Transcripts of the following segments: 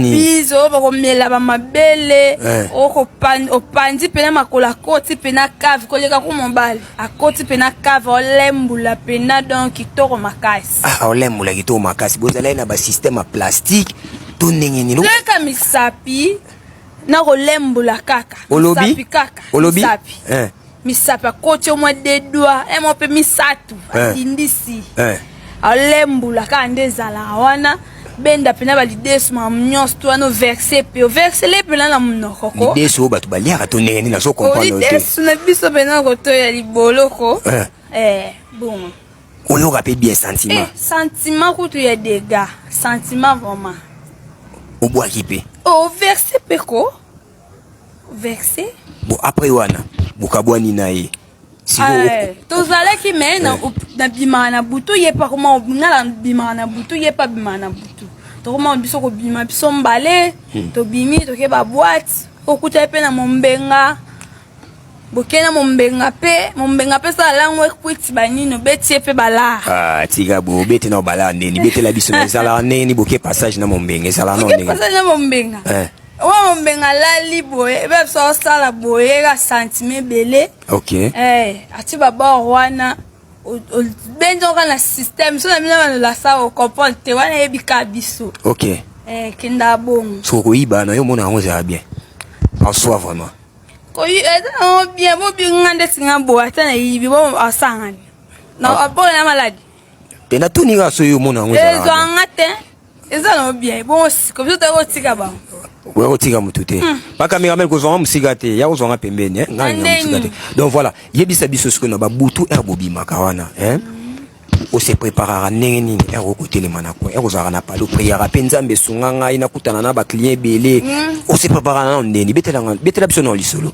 nini bizo bakomela bamabele eh. opanzi mpena makolo akoti mpena cave koleka ku mobali akoti mpena cave olembula mpena donc kitoko makasi ah, olembula kitoko makasi bozalaki na basystème ya plastique to ndenge nini kaka misapi na kolembola kaka olobi kaka olobi eh. misapi akoti omwa de doi emwa mpe misato eh. atindisi eh. alembola kaka nde ezalaka wana benda mpena balidesu makambo nyonso to wana overse mpe oversele mpena na monoko ko lidesu oyo bato baliaka to ndenge nini nazo comprendrelidesu na biso mpena kotoya liboloko eh. eh, bon oyoka mpe bien sentiment eh, sentiment kutu ya dega sentiment vraiment obwaki mpe overse mpe ko verse bon après wana bokabwani na ye ah, tozalaki me nabimaka na butu ye mpe akoma nga nabimaka na butu ye mpe abimaka na butu tokoma biso kobima biso mbale hmm. tobimi toke babwate okuta ye mpe na mombenga bokei na mombenga mpe mombenga mpe sala lango ekwiti banini obeti ye mpe balaa ah, tika bo obeti na obalaa ndeni betela biso ezalaka ndenge ni boke passage na mombenga ezalaka na mombenga eh. Oyo mombenga alali boye ebe biso asala boye ka sentime ebele okay. eh, ati babor wana obendi oka na système so na bino banolasa ocomprendre te wana eyebika biso okay. eh, kenda bongo soki okoyiba na yo omona yango ezala bien en soi vraiment koyi eza nango bien bobinga nde singa boye ata nayibi bo asangani na ah. abona na maladi mpe natuni kaka soki omona yango ezala ezwanga te eza na bien bon siko biso toyako tika ba oya kotika motu te bakamera hmm. mele kozwanga mosika te ya kozwanga pembeni eh? ngai na mosika te donc voilà yebisa biso sikoyo na babutu ere bobimaka wana eh? osepreparaka ndenge nini ere okotelema na coin ere ozalaka na palo priaka mpe nzambe esunga ngai nakutana na baclient ebele hmm. osepreparaka nano ndeni betela biso na lisolo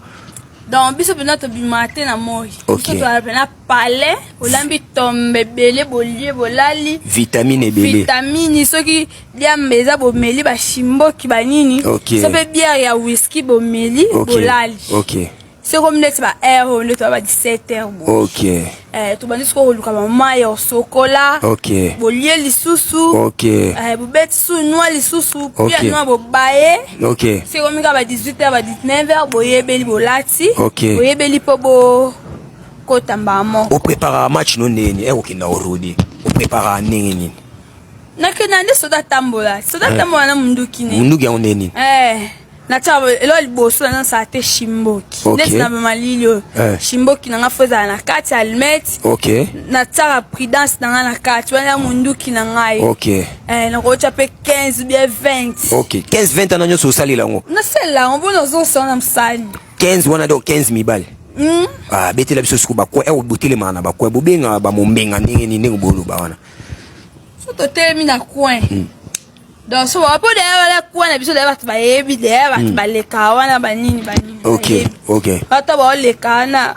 donc biso mpenza tobimaka te na moi biso toala mpe na palais olambi tombe ebele bolie bolali vitamine ebele vitamine soki diamba eza bomeli bashimboki banini okay. so mpe biere ya whisky bomeli okay. bolali okay. seko ndeti ba air oyo nde toya ba 17 heure bo okay. eh, tobandi sikoyo koluka bamai ya osokola okay. bolie lisusu okay. eh, bobeti su nwa lisusu okay. pia nwa bobaye okay. seko mika ba 18 heure ba 19 heure boyebeli bolati okay. boyebeli mpo bo kota mbala moko. Opreparaka match no ndenge nini? Eko kenda orudi. Opreparaka ndenge nini? Nakenda nde soda tambola. Soda eh. tambola na munduki ne. Munduki yango ndenge nini? Eh. natia elo ya liboso naza nasala te shimboki ndeti na bamalili oyo eh. shimboki na ngai fo ezala na kati ya almete natiaka prudence na ngai na kati wana ya monduki na ngai eh, nakotya mpe 15 bie 20 15 20 ana nyonso osalela yango nasalela yango mpo nazosala na mosali 15 wana donc 15 mibale mm. ah, betela biso suku bakwe eh, botelemaka na bakwe bobengaka bamombenga ndenge nini ndenge boloba wana so totelemi na coin mm. donc so bapo deya wana coin na biso deya bato bayebi deya bato mm. baleka wana banini banini ok ok bato baoleka wana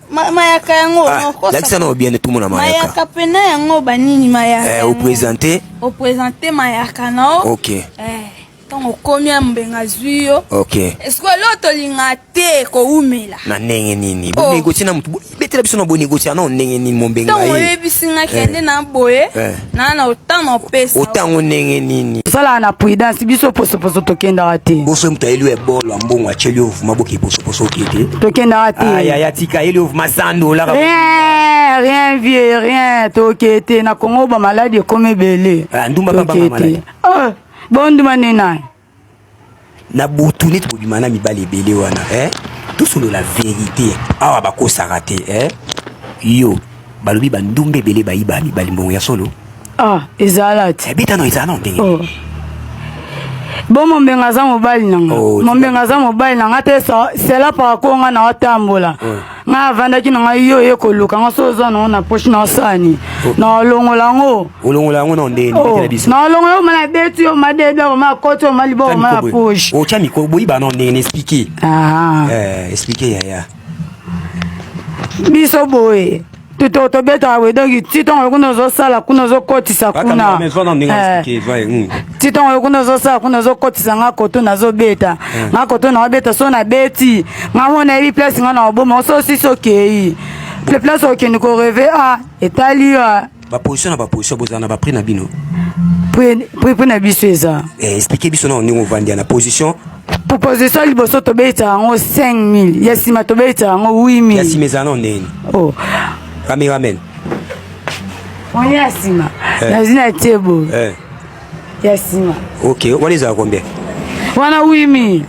mayaka yango ah, lakisa na obiende tumona mayaka pena yango banini mayaka eh, opresente opresente mayaka na o ok eh, ntango okomi ya mbenga azwi yo ok eske leo tolinga te kowumela na ndenge nini oh. bonegotie na motu betela biso na bonegotie na ndenge nini mombenga ntango oyebisi nga kende eh. na boye na na otanga opesa otango ndenge nini sala na prudence biso posoposo tokendaka te boso moto ayeli ya bolo ya mbongo atyeli yo vuma boke posoposo oke te tokendaka te ah, yaya tika ayeli yo vuma sando olaka rien rien vieux rien toke te na kongo bamaladi ekomi ebele ah, ndumba baba maladi ah, bonduma nde naye na butu neti bobima na mibali ebele wana eh? tosolola verite awa bakosaka te eh? yo balobi bandumba ebele bayiba mibali mbongo ya solo ah, ezala te eh, beta no ezala nao ndenge oh. bo mombenga aza mobali nanga oh, mombenga aza mobali nanga te sela paka konga na watambola oh. nga avandaki na ngai yo oye koluka nga so oza nango na poche na osani oh. na olongola yango olongola yango na ndeni oh. na biso na olongola yango mana beti yo ma dedo yango ma koti yo ma liboko ma na poche o oh, cha miko boyi ba na ndeni expliquer ah eh expliquer yaya biso boye tuto tobetaka boye donki ti ntongo yo kuna ozosala kuna ozokotisa kuna ti ntongo yo kuna ozosala kuna ozokotisa nga koto nazobeta nga koto naobeta so nabeti nga mo nayebi place nga naoboma oso osisi okei le place okende koreve a etali yo baposition na baposition bozala na baprix na bino prix na biso eza explike biso na ndenge ovandi na position proposition liboso tobeta yango 5000 ya nsima tobeta yango 8000 ya nsima ezala no ndeni oh. cameraman oni ya nsima eh. nazwi na tie boye eh. ya nsima ok wana ezala combien wana 8000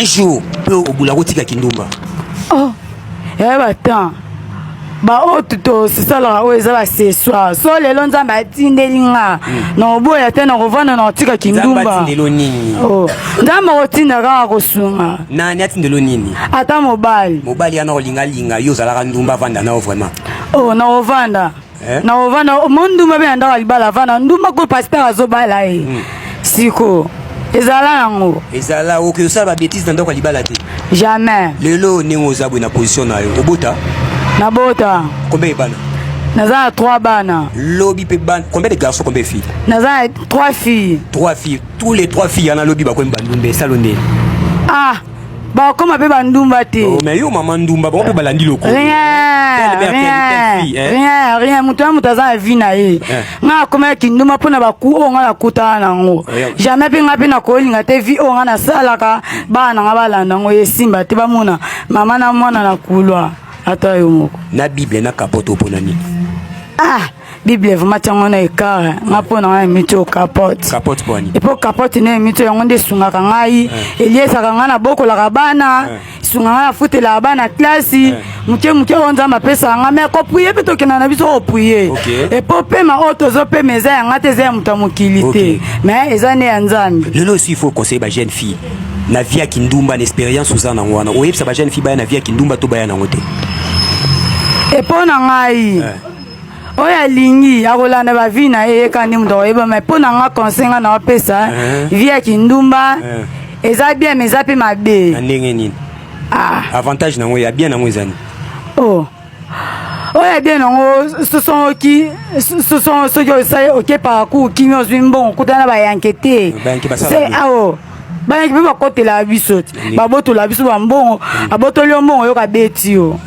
un jour mpe obula kotika kindumba oh. eh ba temps ba oyo tosisalaka oyo eza baccessoire so lelo nzambe atindeli nga hmm. na oboya te na kovanda na kotika kindumba oh. nzambe akotinda kaka kosunga nani atindelo nini ata mobali mobali yana kolingalinga yo ozalaka ndumba avanda nao vraiment o oh, na kovanda eh? na ovanda mo ndumba mpe na ndako ya libala avanda ndumba ko pasteur azobala ye eh. hmm. siko ezala yango ezala okoki osala babetise na ndako ya libala te jamais lelo ndenge oza boye na position na yo obota nabota kombe ebana naza na trois bana lobi mpe bana combien de garçon combien fille naza na trois filles trois filles tous les trois filles yana lobi bakomi bandumba esalo nde ah bakoma mpe bandumba te oh, mais yo mama ndumba bango mpe balandi lokola rien moto na moto aza na vie na ye eh. ngai akomaki kindumba mpo na baku oyo ngai nakutana na yango eh, jamais mpe ngai mpe nakolinga te vie oyo ngai nasalaka bana na ngai balanda yango esimba te bamona mama na mwana na kulwa ata yo moko na bible na kapoto mpo na nini ah. bible vraimen tia yango na ekare nga mpo na nga emito capote epo capote na emito yango nde esungaka ngai eh. eliesaka ngai nabokolaka bana eh. esunga ngai nafutelaka bana klasi eh. moke moke oyo nzambe apesaka ngai mai koprie mpe tokenda na biso koprie epo pema oyo tozopema eza ya ngai te eza ya moto ya mokili te mai eza nde ya nzambe lelo osi faut conseille ba jeune fille na vie ya kindumba na expérience oza nango wana oyebisa ba jeune fille baya na vie ya kindumba to baya nango te epo na ngai oyo alingi akolanda ba vie na ye yeka nde moto akoyeba mai mpo na nga conseil nga na opesa eh. vie ya kindumba eh. eza bien mais eza mpe mabe na ndenge nini ah. avantage nango ya bien nango ezani oh. oyo ya bien nango soki soki osali oke parcours kimi ozwi mbongo okutana na bayanke te ao bayanke mpe bakotela biso te babotola biso bambongo abotoli yo mbongo oyoka beti yo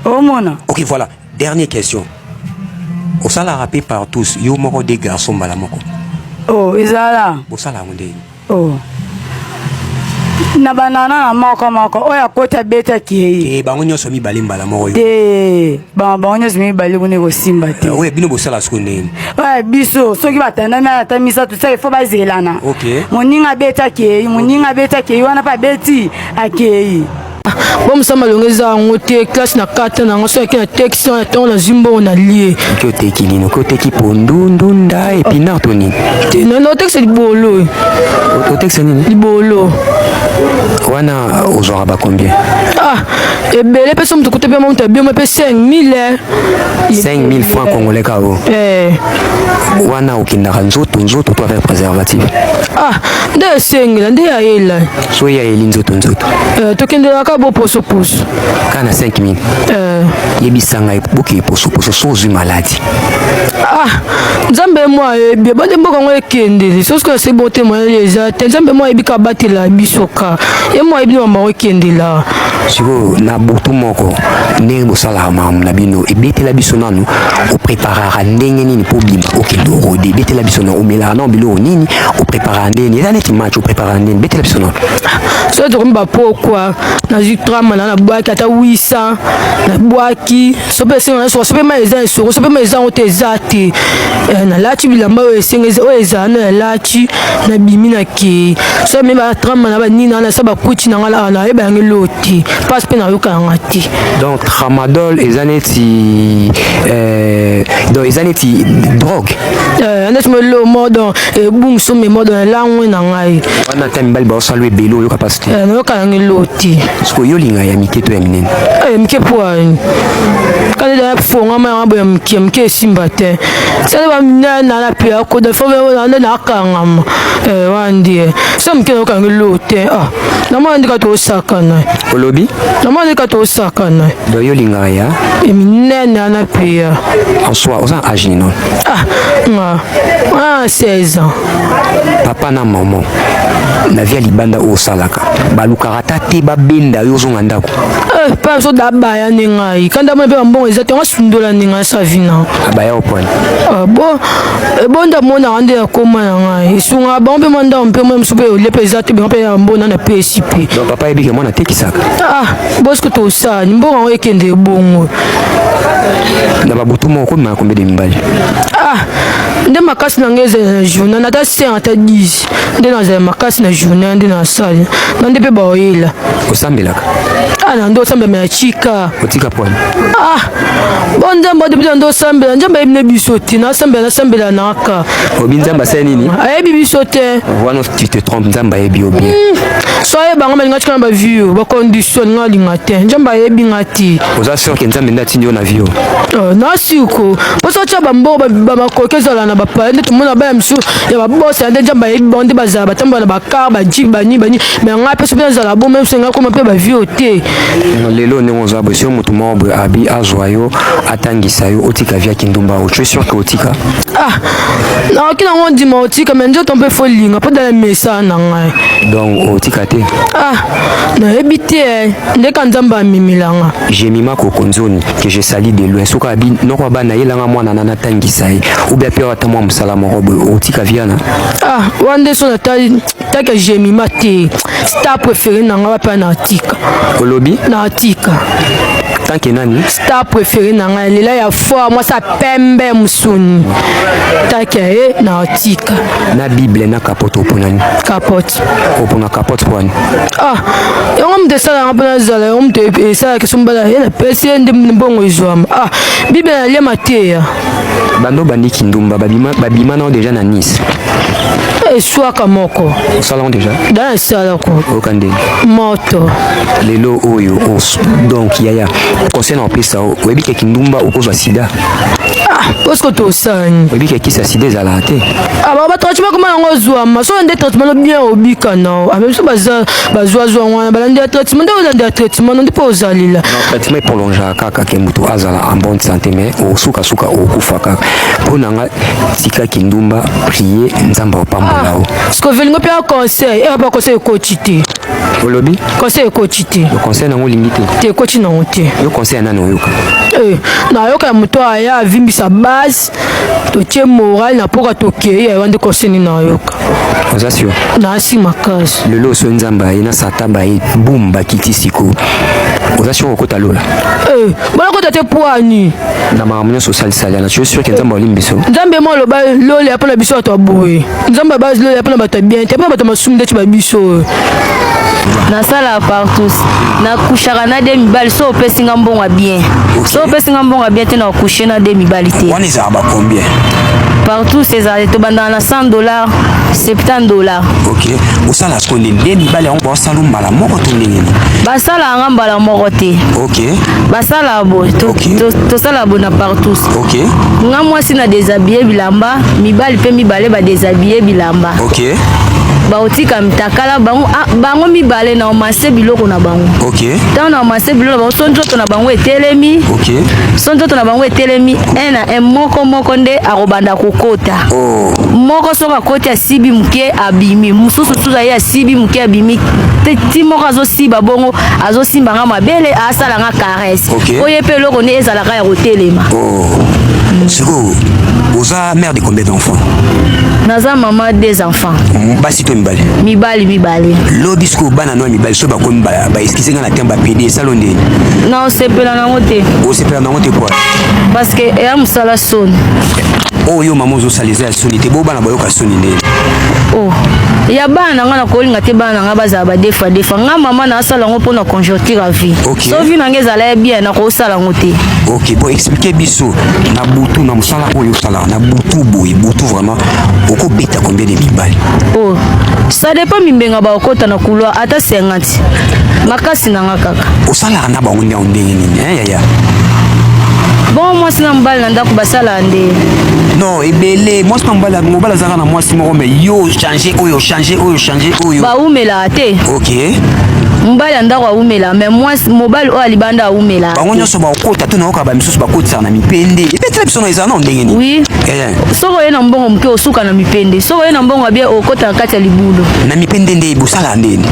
omona ok voilà Dernier question. Osalaka pe partous yo moko de garçon mbala moko. Oh, ezala. Bosala yango ndenge. Oh. na banana na moko moko oyo akoti abeti akei eh, bango nyonso mibale mbala moko te eh, bango nyonso mibale kuna ekosimba te eh, oyo bino bosala siko ndeni biso soki batandami ata misato seke fo bazelana moninga abeti akei moninga abeti akei wana mpe abeti akei bo mosamba longo eza yango te classe na kata na yango soki na texte wana ntango nazwi mbongo na lie oki oteki nini oki oteki pondu ndunda epinard to nini te nano otexte libolo otexte nini libolo wana ozwaka bacombien ah ebele mpe so moto kuta mpe moto abioma mpe 5000 5000 franc congolais kao eh. wana okendaka nzoto nzoto to avec préservatif ah nde esengela nde ayela so ya eli nzoto nzoto euh, tokendelaka boposoposo kaka na 5 minute euh. yebisa ngai boke posoposo so ozwi maladi ah nzambe mwa ayebi eh, ebande mboka yango ekendeli soki ese bote moyele eza te nzambe mwa ayebi ka batela biso ka ye mwa ayebi mama yango ekendela sikoyo na butu moko ndenge bosalaka makambo na bino ebetela biso nanu opreparaka ndenge nini mpo obima okende orode ebetela biso na omelaka nao biloko nini opreparaka ndenge nini eza neti match Ah, nini betela biso nono soki tokomi bapokwa nazwi trama na nabwaki ata wisa nabwaki sope esengo na soko sope mai eza esoko sope mai eza yango te eza te eh, nalati bilamba oyo esengo oyo ezala na nalati nabimi na kei so me batrama na banini na nasa bakuti na ngai awa nayeba yango eloo te mpasi mpe nayoka na ngai te donc tramadol eza neti eh, donc eza neti drogue Eh, neti melo modo ebungsu me modo na langwe na ngai wana ata mibali baosala ebele oyoka mpasi te eh, nayoka nange lo te sikoyo yo olinga ya mike to ya minene eh, ya mike mpo ani kani daya fongama yanga boya mike mike esimba te sani baminene na lapia koda fo nde nakangama wandie so mike nayoka nange lo te ah. namona ndika tosakana olobi namona ndika tosakana do yo lingaka ya minene ana pia en soi oza age nino ah nga ah 16 ans papa na maman na vie ya libanda oyo osalaka balukaka ata te babenda yo ozonga ndako eh, pa biso dabaya nde ngai kanda mona mpe bambongo eza te yango asundola nde ngai savina abaya opone ah, bo ebonda mona ande ya koma ya ngai esunga bango mpe mandao mpe mwa mosusu mpe olepe eza te bango mpe ya mbona na pesi mpe donc papa yebike mwana atekisaka ah bosko tosani mbongo yango ekende ebongo na babutu moko komema kombe de mibali ah nde makasi na ngai ezala na journal ata 5 ata 10 nde nazala makasi na journée nde nasali na nde mpe baoyela osambelaka ah na nde osambela ya chika otika pwani ah bo nzambe adebi na nde osambela nzambe ayebi na biso te nasambela nasambela naka obi nzambe asali nini ayebi biso te wana tu te trompe nzambe ayebi yo bien hmm. so ayeba nga balinga tika na bavio bacondition nga alinga te nzambe ayebi nga te oza sur ke nzambe nde atindi yo na vio oh, nasiko mpo so otya bamboko bamakoki ezala na bapaya nde tomona baya mosusu ya ba boss ya ndeja ba yebi bande ba za ba tamba na ba car ba jeep ba ni ba ni mais nga pe sope za la bo même senga koma pe ba vie ote lelo ne on za bo sio mutu mo bo abi azwa yo atangisa yo otika via kindumba o tu es sûr que otika ah na kina ngo ndima otika mais ndio tombe fo linga po dala mesa na ngai donc otika te ah na yebi te eh. nde ka nzamba amimilanga je mima kokonzoni que je sali de loin soka abi noko bana yelanga mwana nana tangisa ye obi ape ata mwa mosala moko boye okotika viana ah wana nde so nataka jemima te star préféré na nga wapi ana atika olobi na atika tanke nani star préféré na ngai lela ya fort mwasi ya pembe mosuni tanke ye na atika na bible na kapote opo nani kapote opo na kapote po wani ah yango moto esalaka mpo nazala yango moto esalaka sombala ye napesi ye nde mbongo ezwama ah bible na lia mateya bando bandi kindumba babima, babima nao deja na nice eswaka moko osalango deja da esalako oyoka ndenge moto lelo oyo os donc yaya conseil na opesa oyebi ke kindumba okozwa sida parceke ah, tosani oyebi ke kisa sida ezalaka te ah, batraitement koma yango ozwama soki nde traitement no bien obika nao ah, biso bazwazwa wana balandi ya traitement nde olandi ya traitement no nde mpo ozalela traitement epolongeaka kaka ke moto azala en bonne santé mais osukasuka okufa kaka mpo na nga tika kindumba prie nzambe apambola yo ah, sikovelingo mpe conseil eya ba conseil ekoti te olobi conseil ekoti te conseil nango olingi te te ekoti nango te yo conseil ya nani oyoka eh, nayoka ya moto aya avimbisa base totie moral na mpoka tokei yayo nde koseni nayoka oza sur nasi makasi lelo oso nzambe aye na satan baye bum bakiti siko oza sur okota lola eh, balakota te poani na makambo nyonso osalisali na sio sur ke nzambe aolimbi biso nzambe mo aloba lola mpo na biso bato aboye nzambe abazilo ya mpo na bato ya bien te mpo na bato ya masumu ndeti ba biso nasala partout nakushaka na de mibali so opesi nga mbongo ya bien so opesi nga mbongo ya bien te na okushe na de mibali te wana ezalaka bacombien partout ezala tobandaka na 100 dollar 70 dollar ok osala sikoyo nini de mibali yango salo mbala moko to ndenge nini basala yanga mbala moko te ok basala boye tosala boye na partout ok nga mwasi na desabille bilamba mibali mpe mibale badesabille bilamba ok bakotika mitakala bango, ah, bango mibale na omase biloko na bango okay. ntango na omase biloko na bango so nzoto na bango etelemi okay. so nzoto na bango etelemi un na un moko moko nde akobanda kokota oh. moko soki akoti asibi moke abimi mosusu suza ye asibi moke abimi te ti moko azosiba bongo azosimba nga mabele asala nga caresse okay. oye mpe eloko nde ezalaka ya kotelema oh. mm. sikoyo oza mère de combien d'enfants naza mama des enfants mm, basi mpe mibale mibali mibale lobi sikoyo bana no ya mibali soki bakomi baeskise nga na tembe bapedi esalo ndeni na osepela nango te osepela nango te poi parce que eya mosala soni oyo yo mama ozosala eza ya soni te bo bana bayoka soni nde oh. ya bana na ngai nakolinga te bana na ngai bazala badefa defa ngai mama nasala yango mpo na conjoncture ya vie okay. so vie na ngai ezala ya bien nakosala yango te ok bon explike biso na butu na mosala oyo osalaka na butu boye butu vraiment okobeta combien de mibali oh. ça dépend mimbenga bakokota na couloir ata 50 makasi na ngai kaka osalaka na bango ndenge nini ya bon mwasi na mobali na ndako basala nde non ebele mwasi na mobali mobali azalaka na mwasi moko me yo change oyo change oyo change oyo bawumelaka te ok mobali ya ndako awumela me mwasi mobali oyo alibanda awumela bango nyonso bakokota to nayoka bamisusu bakotisaka na mipende ebetela biso na eza nao ndenge nini oui eh, soki oye na mbongo moke osuka na mipende soki oye na mbongo ya bie okotaka kati ya libulu na mipende nde bosalaka ndeni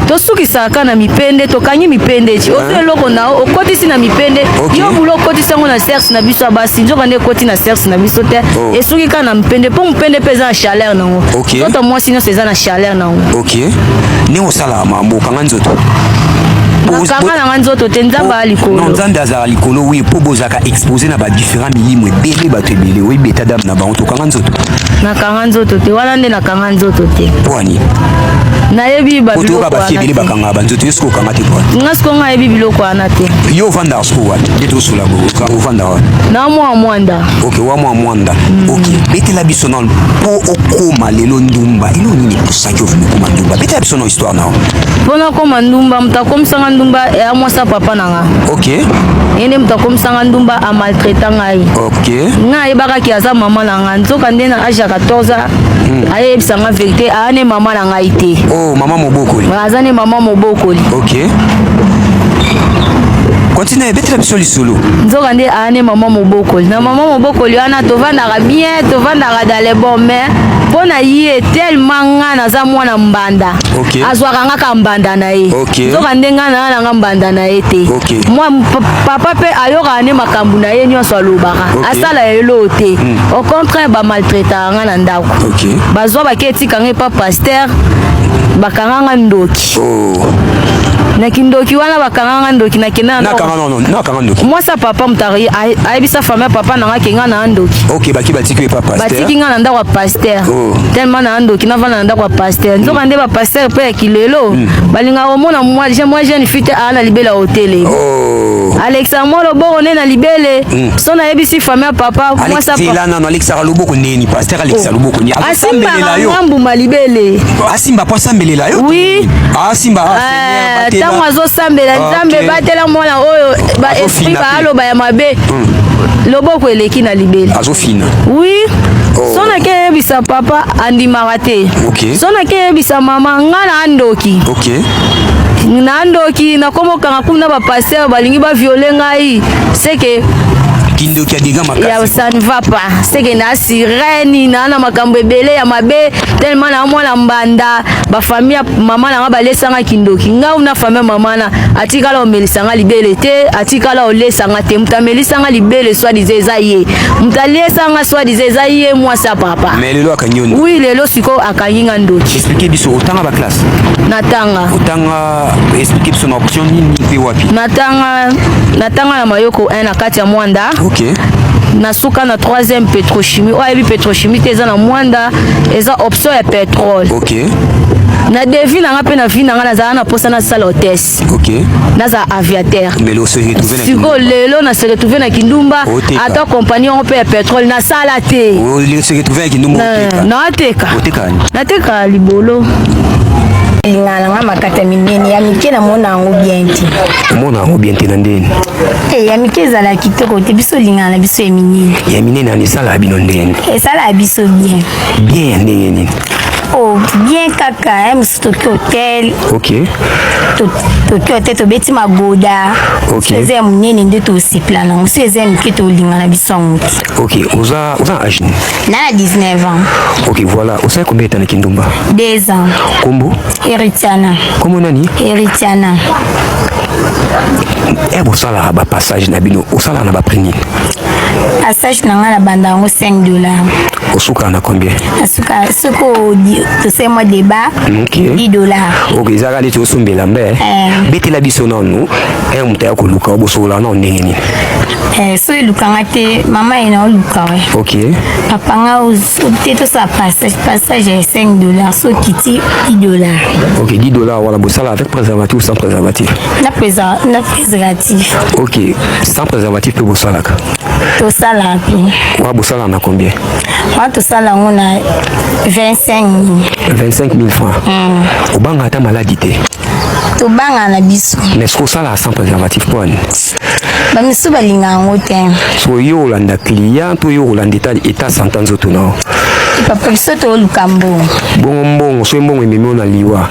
tosukisaka kaka na mipende tokangi mipende ti ozwi eloko na yo okotisi na mipende yo bulu okotisi yango na cerce na biso ya basi nzoka nde ekoti na cerce na biso te oh. esuki kaka na mipende mpo mopende mpe eza na chaleur na yango nzoto mwasi nyonso eza na chaleur na yango ok ndenge osalaka mambo okanga nzoto kanga nanga nzoto te nzambe aa likolo nzambe azala likolo wi mpo bozalaka ba expose na ba différents milimo ebele bato ebele oyebi eta dame na bango tokanga nzoto nakanga nzoto te wana nde nakanga nzoto te pwani nayebi babiloko bafie ebele bakanga banzoto yo soki okanga te pwani nga siko nga ayebi biloko wana te yo ovandaka soko wapi nde tosola ovandaka wapi na mwa mwanda ok wa mwa mwanda mm. ok betela biso nano mpo okoma lelo ndumba elo nini ekosaki ovimi okoma ndumba betela biso na histoire nao mpo nakoma ndumba moto akomisanga ndumba ya mwasa papa na nga ok ye nde moto akomisanga ndumba amaltraita ngai ok nga ayebaka ke aza mama na nga nzoka nde na age ya 14 hmm. ayebisa nga verité aa ne mama na ngai te oh, mama mobokoli aza ne mama mobokoli ok kontina ebetela biso lisolo nzoka nde aa ne mama mobokoli na mama mobokoli wana tovandaka bien tovandaka dans le bon mais mpo na ye tellement nga naza mwana mbanda okay. azwaka nga ka mbanda na ye okay. nzoka nde nga na nga mbanda na ye te okay. mwa papa mpe ayokaka nde makambo na ye nyonso alobaka okay. asala ya eloo te mm. au contraire bamaltraitaka nga na ndako okay. bazwa bake etika nga epa paster bakanga nga ndoki oh. na kindoki wana bakanga nga ndoki nakenda mwasi ya papa moto ayebisa fami ya papa na nga ke nga na ndoki batiki nga na ndako ya paster oh. tellement na ndoki navanda na ndako ya paster pasteur nzoka nde ba pasteur pe ya kilelo hmm. balingaka komona mwa jeune fille te aa na libela hotele oh. alexa mwa loboko nde na libele hmm. so nayebisi famille ya papa mwasnano alexaka loboko neni pasteur alexa oh. loboko neni asimbaka nga mbuma libele asimba po asambelela yo oui asimba ah, ah, eh, ntango azosambela nzambe batela mwana oyo ba esprit baaloba ya mabe hmm. loboko eleki na libele azofina oui oh. so nakeyebisa papa andimaka kaka te okay. so nakeyebisa mama nga na andoki okay. na andoki nakomokanga kumi na bapaster balingi baviole ngai seke kindoki ya dega makasi ya ça ne va pas c'est que na sirène na na makambo ebele ya mabe tellement na mwana mbanda ba famille mama na nga balesanga kindoki nga una famille mama na atikala omelisanga libele te atikala olesanga te mutamelisanga libele soit disait eza ye mutalesanga soit disait eza ye mwasi ya papa Et lelo akangi yo Oui, lelo siko akangi nga ndoki. Expliquez biso otanga ba classe. Natanga. Otanga expliquez biso na option nini pe wapi? Natanga natanga na Mayoko 1 na kati ya Mwanda. Okay. nasuka na 3e petrochimie oyo ayebi petrochimie te eza na mwanda eza option ya petrole okay. na devi na nga mpe na vi na nga nazala na mposa nasala hotesse pilote okay. naza aviateur sikoyo lelo na se retrouve na kindumba ata kompani yango mpe ya petrole nasala te nateka nateka libolo lingana nga makata minene ya mike namona yango bien te omona yango bien te na ndeni e eh, ya mike ezala kitoko te biso olingana na biso ya minene ya minene ana esalaka bino ndeni esalaka biso bien bien ya ndenge nini o oh, bien kaka eh, toki hotel okay. toki hotel tobeti magoda okay. eza ya monene nde tosepela nango so eza ya mike tolinga na biso yango te ok oza oza age na na 19 ans ok voilà osali combien etana kindumba deux ans kombo eritiana kombo nani eritiana e eh, bosalaka bapassage na bino osalaka na baprix nini A stage na nga na banda yango 5 dollars. Osuka na combien? Asuka soko tosali mwa débat okay. 10 dollars. Okay, ezaka neti osombela mbe. Eh. Betela biso nanu eh moto ya koluka bosola na ndenge nini? Eh, so elukanga te mama ye na oluka we. Okay. Papa nga te tosala passage passage ya 5 dollars so kiti 10 dollars. Okay, 10 dollars wana bosala avec préservatif ou sans préservatif? Na préservatif. Okay, sans préservatif mpe bosalaka tosalaka te wa bosalaka na combien wa tosala yango na 25 25 000 francs mm. obanga ata maladi te tobanga na biso mais soki osalaka sans préservatif mpo ani bamisusu balinga yango te so yo olanda client to yo olanda etat santa nzoto nao papa biso toluka mbongo bongo mbongo soki mbongo ememi ona liwa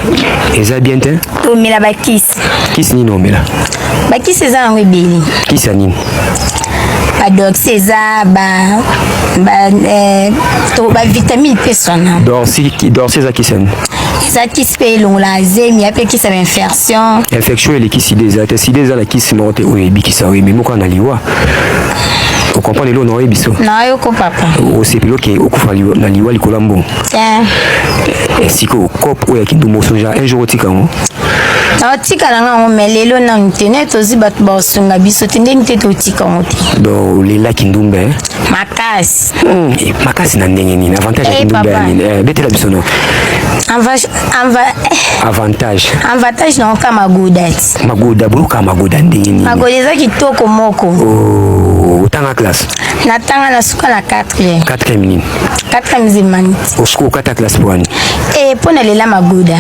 eza bien te tomela bakisi kisi nini omela bakisi eza yango ebele kisi ya nini badox eza bavitamine mpe sona dorsi eza kisi ya nini eza kisi mpe elongolaka zemi ape kisi ya bainfection infection eleki sida eza te sida eza na kisi moko te oyo ebikisa oyo eme moko na liwa okomprendre eloo na oyebiso nayoki papa osepeli oke okufa na liwa likolo ya mbongo eh, sikoyo cop oyo ya kindu moso genre un jour otika yango naotikala nga yango mai lelo nanu te nde tozi bato baosunga biso te ndenge te totika yango te don olelaki ndumba eh? makasi hmm, eh, makasi na ndenge nini avantage ya kindumba ya nini betela biso no avantage avantage na oka magoda ti magoda boyoka magoda ndenge nini magoda eza kitoko moko oh, otanga classe natanga na suka na 4 4 nini kata musulmane osiko okata classe mpo wani e mpo na lela magoda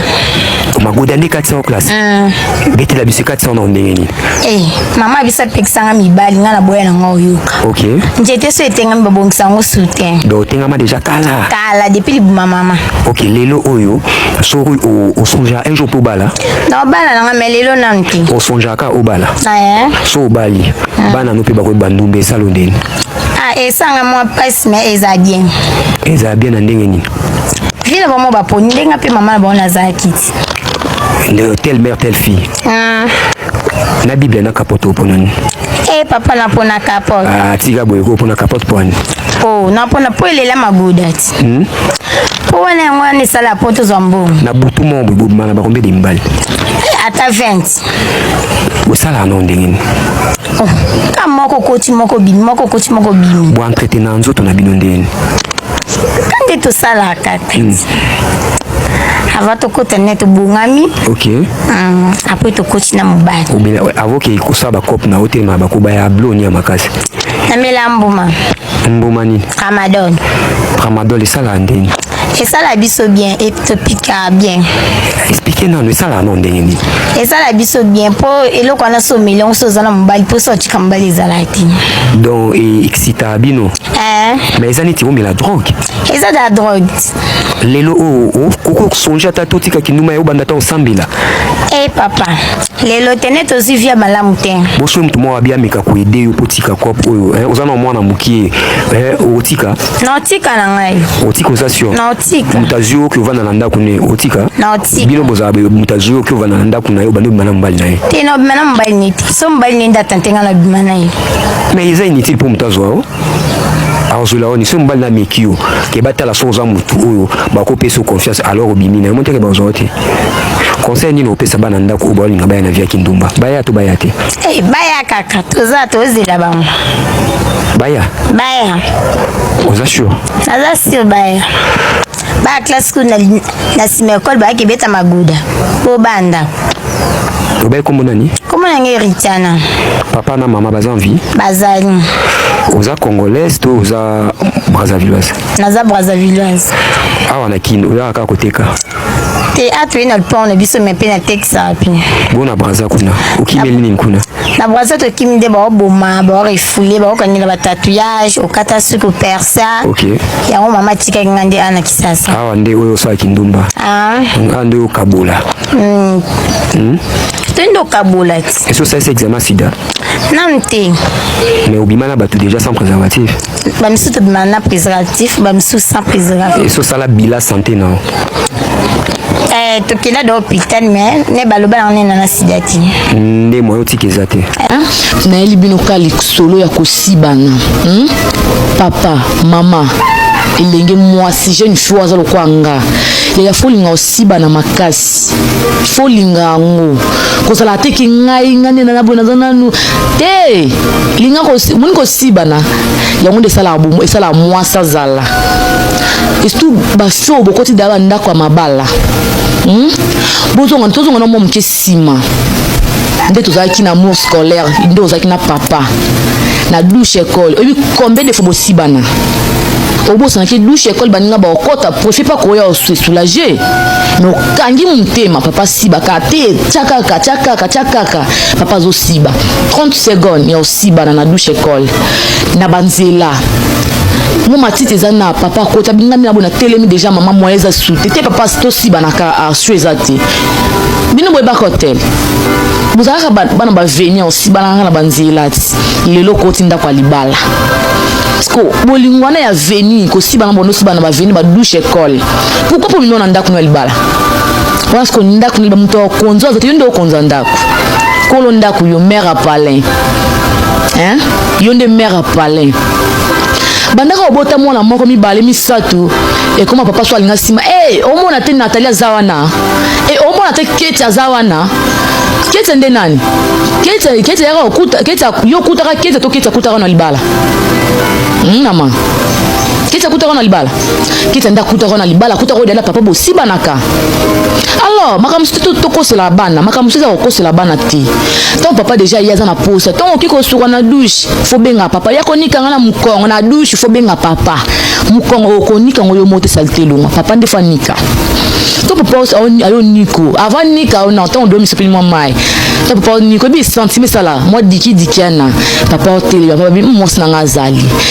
magoda nde 400 classe mm. betela biso 400 na ndenge nini e mama abiso apekisanga mibali ngai na boya nanga oyoka ok njete so etengami babongisa yango soutien do otengama deja kala kala depuis libuma mama ok lelo oyo soki osonjaka un jour mpo obala na obala nanga me lelo nanu te osonjaka obala so obali mm. bana no mpe bakoyeba ndumba esalo ndeni Ah, esanga mwa pasi me eza bien eza bien na ndenge nini vie na bango baponi ndenge mpe mama na bango nazalaki ti nde telle mère telle fille ah. na biblia na kapote opona nini e eh, papa napona kapote ah, tika boye ko opona kapote po ani oh, napona mpo elela maguda ti hmm? mpo wana yango wana esala mpo tozwa mbongo na butu moko bobomana bakombe de mbali ata 20 bosalaka nango ndenge nini oh, ka moko koti moko bimi moko koti moko bimi boentraite na nzoto na bino ndenge nini ka nde tosalaka hmm. ava tokota ne tobongami okay. um, apres tokoti na mobali avokei kosala bacope na otelema bakoba ya bloni ya makasi namela mbuma mbuma nini tramadol tramadol esalaka ndenge esala biso bien et topika bien explike nanu esalaka nao ndenge nini esala biso bien mpo eloko wana so omeli yango so oza na mobali mpo so otika mobali ezalaka te donc e excitaka bino eh. mais eza neti omela drogue eza da drogue lelo oyo oh, oh, okoki kosonge ata te otika kinduma ya obanda ata osambela e eh, papa lelo tene tozwi via malamu te bosoki moto moko abiameka koede yo mpo otika cope oyo eh, oza na mwana mokie otika na otika na ngai otika oza sio na otika moto azwi oki ovanda na ndako ne otika na otika bino bozala moto azwi oki ovanda na ndako na ye obandi obima na mobali na ye te na obima na mobali ne te so mobali ne nde atante ngai na obima na ye mais eza inutile mpo moto azwa o azwela oni soki mobali nameki yo ke batala soki oza motu oyo bakopesa confiance alors obimi na yo moteke bazwa te conseil nini opesa bana ndako oyo baolinga baya na via kindumba baya to baya te Hey, eh, baya kaka toza tozela bango baya baya oza sure naza sure baya baya classe kuna na nsima ya ekole bayaki ebeta maguda po banda obai kombo nani kombo na ngai eritiana papa na mama baza envie bazali oza congolaise to oza brazzavilloise naza brazzavilloise awa na kino oyaka kaka koteka teatre na lupango na biso me mpe na texte wapi bo na braza kuna okimeli nini kuna na braza tokimi nde baoboma baorefule baokangela batatouillage okata suki opersa okay. yango mama atikaki nga nde ana kisasa awa nde oyo osalaki ndumba ah. nga nde okabola mm. mm? toyende okabola ti esi osalisi examen sida nanu te mais obima na bato déjà sans préservatif bamisusu tobima na préservatif bamisusu sans préservatif eso sala bila santé na yo eh, tokenda do hôpital mais ne baloba yango nena na sida te nde moyo otika eza te nayeli bino ka lisolo ya kosibana hmm? papa mama elenge mwasi jeune fille aza lokola nga yaya fo olinga osiba na makasi makasi. Faut linga yango. Kozala te ki ngai ngai nde naza boye naza nanu te. Linga ko moni kosibana yango nde esalaka bomo esalaka mwasi azala surtout basi oyo bokoti daya bandako ya mabala hmm? bozonga tozonga na mwa moke nsima nde tozalaki na mour scolaire nde ozalaki na papa na douche école oyebi combien de fois bosibana obosanaki douche école baninga baokota profi mpe akoya osoulage mais okangi motema papa siba kaka te tya kaka tya kaka tya kaka papa azosiba 30 seconde ya osibana na douche ecole na banzela mo matiti eza na papa akota bingami na bona telemi deja mama moya eza sute te papa tosibanaka arsu eza te bino boyebaka hotel bozalaka bana baveni osibanaka na banzela ti lelo okoti ndako ya libala parceke bolingo wana ya veni kosibana bona osibana baveni badouche ecole pourquoi po mino na ndako no ya libala wana siko ndako niliba moto ya konzo azati yo nde okonza ndako kolo ndako yo mare apalin hein? yo nde mare apalin bandaka obota mwana moko mibale misato ekoma papa so alinga nsima e hey, omona te natali aza wana e hey, omona te keti aza wana keti nde nani keti keti yaka okuta keti yo okutaka keti to keti akutaka na libala hmm, mama keti akutaka na libala kiti nda akutaka na libala akutaka oyo na papa bosibanaka alors makambo mosusu tokosela bana makambo mosusu eza kokosela bana te ntango papa deja ye aza na posa ntango okoki kosuka na dushe fobenga papa ya konikanga na mokongo na dushe fobenga papa mokongo okonika ngo yo mote salite elonga papa nde fanika to papa ayo niko avant nika ona ntango odomi sopeli mwa mai to papa niko ebi sentime esala mwa dikidiki ana papa otelema papa bi mwasi na ngai azali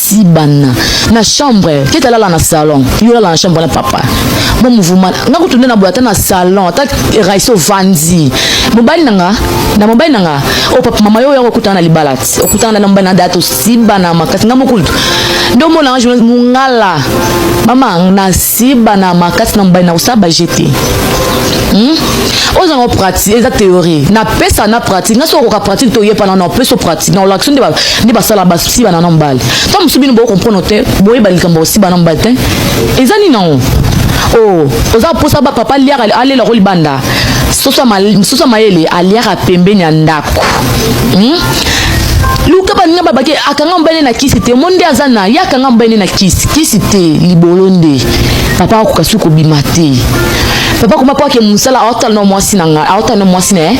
ti bana na chambre keta lala na salon yo lala na chambre na papa mo mouvement nga kutu nde na boya ata na salon ata raiso vandi mobali na nga na mobali na nga o oh, papa mama yo yako okutana na libala ti okutana na mobali na date osiba na makasi nga mokutu nde omona nga journaliste mungala mama nasiba na makasi na mobali na kosala baje te hmm? oza ngo pratique eza théorie napesa na pratique nga soki okoka pratique toyepana na opesa pratique na olakisi nde basala basi siba na na mobali ntango mosusu bino bokocomprendre te boyeba likambo osiba na mobali te eza nini yango oh, oza mposa ba papa liaka alela ko libanda soso ya mayele aliaka pembeni ya ndako hmm? luka baninga babaki akanga mobali na kisi te omoni nde aza na ye akanga mobali na kisi kisi te libolo nde papa akoka soki kobima te papa koma mpo ake mosala aotala na mwasi na ngai aotala na mwasi na ye